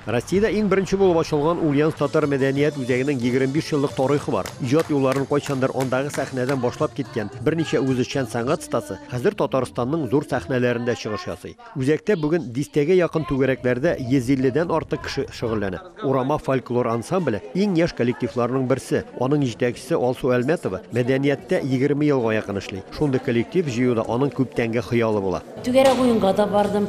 Россиядә иң беренче булып ачылган Ульяновск татар мәдәният үзәгенең 25 еллык тарыйхы бар. Иҗат юлларын кайчандыр андагы сәхнәдән башлап киткән берничә үзешчән сәнгать стасы хәзер Татарстанның зур сәхнәләрендә чыгыш ясый. Үзәктә бүген дистәгә якын түгәрәкләрдә 150 дән артык кеше шөгыльләнә. Урама фольклор ансамбле, иң яшь коллективларның берсе. Аның җитәкчесе Алсу Әлмәтова мәдәнияттә 20 елга якын эшли. Шундый коллектив җыюда аның күптәнге хыялы була. Түгәрәк уенга да бардым.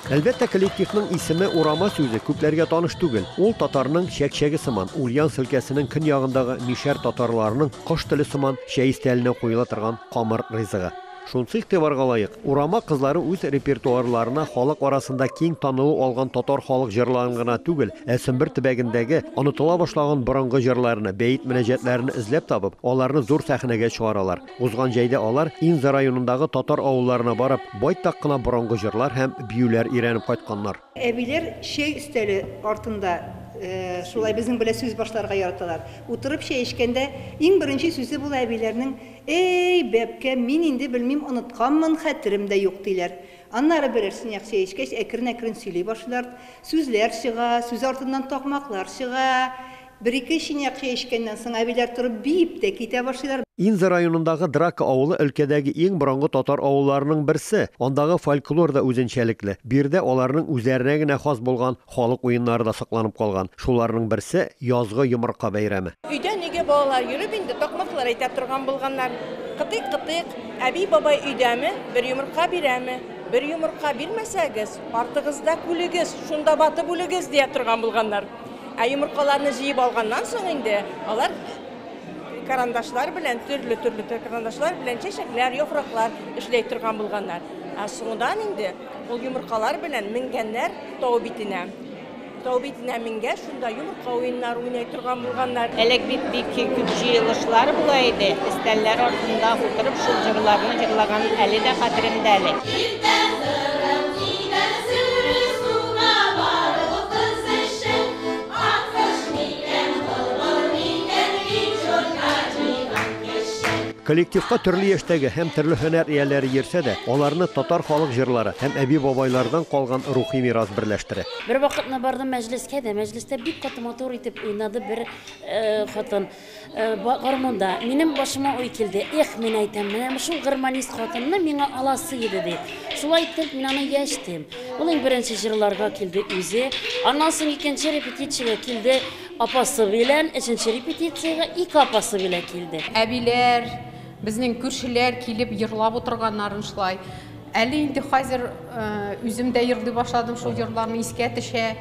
Әлбәттә, коллективның исеме Урама сүзе күпләргә таныш түгел. Ул татарның чәк-чәге сыман, Ульяновск өлкәсенең көньягындагы мишәр татарларының кош теле сыман чәй өстәленә куела торган камыр ризыгы. Шунысы игътибарга лаек, Урама кызлары үз репертуарларына халык арасында киң танылу алган татар халык җырларын гына түгел, ә Сөмбер төбәгендәге онытыла башлаган борынгы җырларны, бәет-мөнәҗәтләрне эзләп табып, аларны зур сәхнәгә чыгаралар. Узган җәйдә алар Инза районындагы татар авылларына барып, байтак кына борынгы җырлар һәм биюләр өйрәнеп кайтканнар. Әбиләр чәй өстәле артында шулай безнең белән сүз башларга яраталар. Утырып чәй эчкәндә, иң беренче сүзе була әбиләрнең, Әй, бәбкәм, мин инде белмим, онытканмын, хәтерем дә юк, диләр. Аннары берәр сынаяк чәй эчкәч, әкрен-әкрен сөйли башлыйлар. Сүзләр чыга, сүз артыннан такмаклар чыга. Бер-ике чынаяк чәй эчкәннән соң әбиләр торып биеп тә китә башлыйлар. Инза районындагы Драка авылы өлкәдәге иң борынгы татар авылларының берсе. Андагы фольклор да үзенчәлекле. Биредә аларның үзләренә генә хас булган халык уеннары да сакланып калган. Шуларның берсе, язгы йомырка бәйрәме. Өйдән өйгә балалар йөреп инде такмаклар әйтә торган булганнар. Кытыйк-кытыйк, әби-бабай өйдәме, бер йомырка бирәме? Бер йомырка бирмәсәгез, артыгызда күлегез, шунда батып үлегез, дия торган булганнар. Ә йомыркаларны җыеп алганнан соң инде алар карандашлар белән, төрле-төрле карандашлар белән чәчәкләр, яфраклар эшләй торган булганнар. Ә соңдан инде ул йомыркалар белән менгәннәр тау битенә. Тау битенә менгәч, шунда йомырка уеннары уйный торган булганнар. Элек бит бик күп җыелышлар була иде, өстәлләр артында утырып шул җырларны җырлаган әле дә хәтеремдә әле. Иртә сырым кибән сөрү суга барып кыз. Коллективка төрле яшьтәге һәм төрле һөнәр ияләре йөрсә дә, аларны татар халык җырлары һәм әби-бабайлардан калган рухи мирас берләштерә. Бервакытны бардым мәҗлескә дә, мәҗлестә бик каты матур итеп уйнады бер хатын. Гармунда. Минем башыма уй килде. Эх, мин әйтәм, менә шул гармонист хатынны миңа аласы иде, ди. Шулай итеп, мин аны яшь дим. Ул иң беренче җырларга килде үзе. Аннан соң икенче репетициягә килде апасы белән, өченче репетициягә ике апасы белән килде. Әбиләр, безнең күршеләр килеп җырлап утырганнарын шулай. Әле инде хәзер үзем дә җырлый башладым, шул җырларны искә төшә.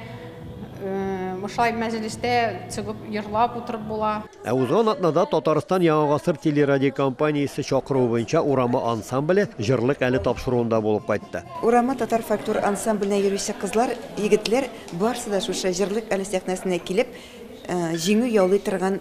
Мышлай мәҗлестә чыгып йырлап утырып була. Ә узган атнада Татарстан Яңа гасыр телерадиокомпаниясе чакыруы буенча Урама ансамбле җырлык әле тапшыруында булып кайтты. Урама татар фольклор ансамбленә йөрүче кызлар, егетләр барсы да шушы җырлык әле сәхнәсенә килеп, җиңү яулый торган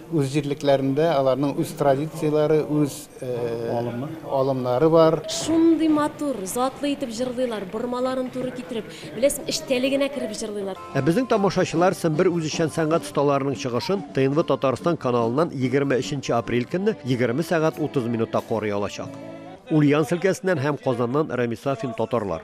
Үз җирлекләрендә аларның үз традицияләре, үз алымнары бар. Шундый матур, затлы итеп җырлыйлар, бормаларын туры китереп, беләсең, эчтәлегенә кереп җырлыйлар. Ә безнең тамашачылар Сембер үзешчән сәнгать осталарының чыгышын ТНВ Татарстан каналыннан егерме өченче апрель көнне егерме сәгать утыз минутта карый алачак. Ульяновск өлкәсеннән һәм Казаннан Рәмис Сафин, татарлар.